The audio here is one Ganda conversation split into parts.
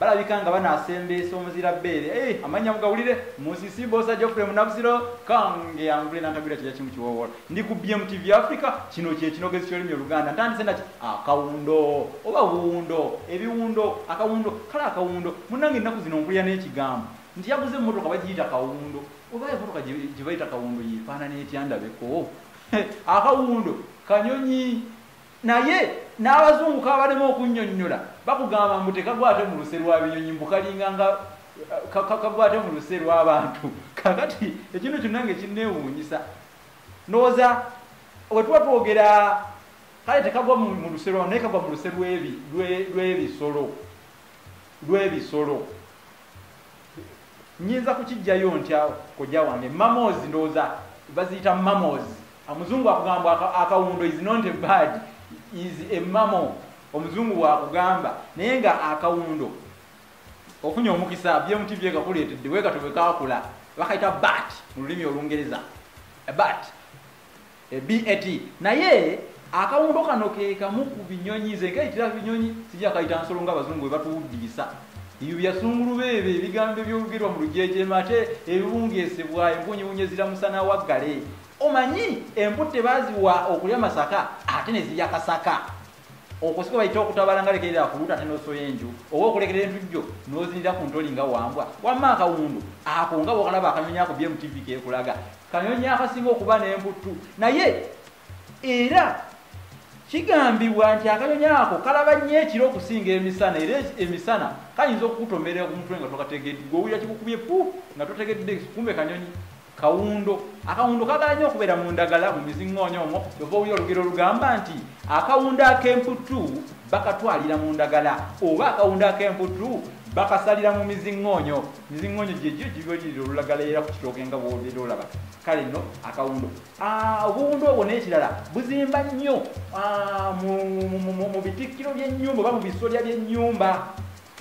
Balabika nga banasembeesa omuzira bbeere eeh amannya mugawulire Musisi Bbosa Geoffrey Munabusiro Kange yangule nantagwira kyeja kimu kiwoowola ndi ku BMTV Africa kino kye kinogezi ky'olulimi oluganda ntandise naki akawundo oba wuundo ebiwundo akawundo kale akawundo munnange ennaku zino mpulira n'ekigambo nti yaguze emmotoka bagiyita kawundo oba emmotoka gye bayita kawundo yeefaanana etya ndabeko akawundo kanyonyi Naye n'abazungu kabalema okunnyonnyola bakugamba mbu tekagwa ate mu luse lwa binyonyi mbu kalinga nga kagwa ate mu luse lw'abantu kakati ekintu kyonna nga ekinneewuunyisa ndowooza we tuba twogera kale tekagwa mu luse lwa naye kagwa mu luse lw'ebisolo lw'ebisolo nyinza kukijjayo ntya kojja wange mamos ndowooza baziyita mamos omuzungu akugamba akawundo is not a bad is a mamo omuzungu bwakugamba naye nga akawundo ofunye omukisa bmtv ekakuleetedde wekatwe bwekakula bakaita bat mu lulimi olungereza bat e bat naye akawundo kano kekamu ku binyonyi nze nkaitira binyonyi sijakayita nsolo nga abazungu webatuwuddiisa ebyo byasungulu beebe ebigambo ebyogerwa mu lujeje mate ebibungesebwa enkunyibunye ziramusana waggale omanyi emputte baziwa okulya masaka ate nezirya kasaka okusika bayita okutabala nga lekerera kuluta ate nosoya enju oba okulekera entujjo nozinira ku ntoli nga wambwa wamma akawundu ako nga wokalaba akanyonyi ako bye mutv kekulaga kanyonyi akasinga okuba nemputtu naye era kigambibwa nti akanyonyi ako kalaba nnyo ekiro okusinga emisana era emisana kayinza okukutomerera ku mutwe nga tokategedde gweowulira kikukubye pu nga totegedde kumbe kanyonyi Kawundo. Akawundo kagala nnyo okubeera mu ndagala mu miziŋŋoonya omwo kyova owulira olugero olugamba nti akawundo ak'emputtu bakatwalira mu ndagala oba akawundo ak'emputtu bakasalira mu miziŋŋoonyo miziŋŋoonyo gyegyo gibalirira olulagala era ku kitooke nga bwobeera olaba kale nno akawundo ah, obuwundo obwo n'ekirala buzimba nnyo ah, mu bitikkiro by'ennyumba oba mu bisolya by'ennyumba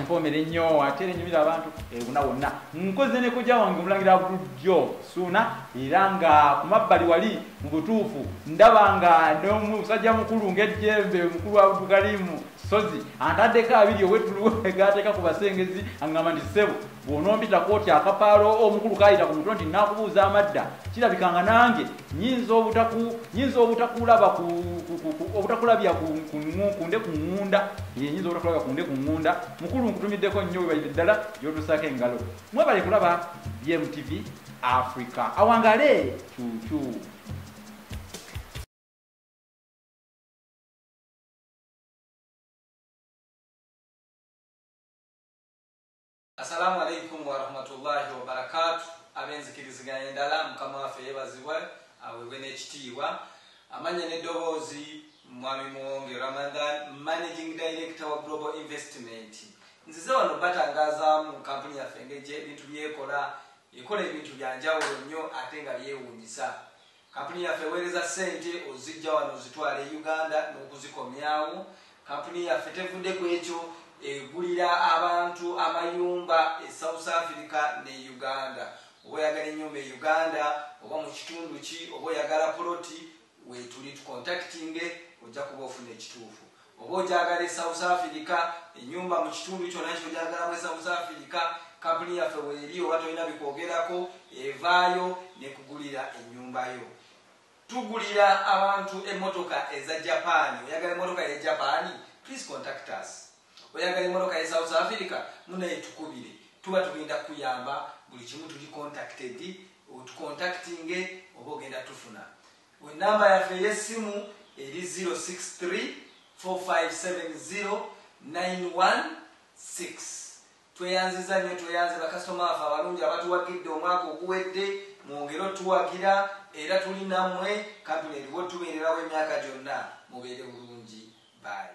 mpoomere nnyo ate era enyumira abantu ebuna eh, wonna nkoze ne kojja wange omulangira bulijjo suuna era nga ku mabbali wali mu butuufu ndaba nga nomusajja mukulu ng'ejjembe omukulu wa butugalimu sozi antaddeko abiri owetuluwe gaateeka ku basengezi aŋŋamba nti ssebo bw'onompita kooti akapaalo omukulu kayita ku mutwe nti nakubuuza amadda kirabika nga nange nyinza obutakulaba obutakulabya kunde ku ŋŋunda yenyinza obutakulabya kunde ku ŋŋunda mukulu nkutumiddeko nnyo webalire ddala gyotusaako engalo mwebale kulaba bmtv africa awangale cucu Assalamu alaikum warahmatullahi wabarakatu ab'enzikiriziganya endala mukama waffe yebazibwe aweebwe n'ekitiibwa amanya n'eddoboozi mwami muwonge ramadan managing director wa global investment nzize wano batangazaamu kampuni yaffe ngeje ebintu byekola ekola ebintu byanjawulo nnyo ate nga byewuunyisa Kampuni yaffe eweereza ssente oziggya wano ozitwala e Uganda n'okuzikomyawo. Kampuni yaffe tevudde ku ekyo, egulira abantu amayumba e South Africa ne Uganda. Oba oyagala ennyumba e Uganda oba mu kitundu ki, oba oyagala poloti, weetuli tukontakitinge ojja kuba ofuna ekituufu. Oba ogyagala e South Africa, enyumba mu kitundu kyona kyogyagalamu e South Africa, kampuni yaffe weri oba tolina bikwogerako evaayo nekugulira enyumba yo. Tugulira abantu emotoka eza Japan, oyagala emotoka ye Japan? Please contact us. Oyagala emotoka ye South Africa? Munaye tukubire. Tuba tugenda kuyamba buli kimu tuli contacted, otucontactinge oba ogenda tufuna. Ku nnamba yaffe ey'essimu eri ziro six three four five seven ziro nine one six. Tweyanzizza nnyo tweyanze bakasitoma baffe abalungi abatuwagidde omwaka oguwedde, mwongere otuwagira era tuli nammwe, kkampuni eriwo tubeererawo emyaka gyonna. Mubeere bulungi. Bye.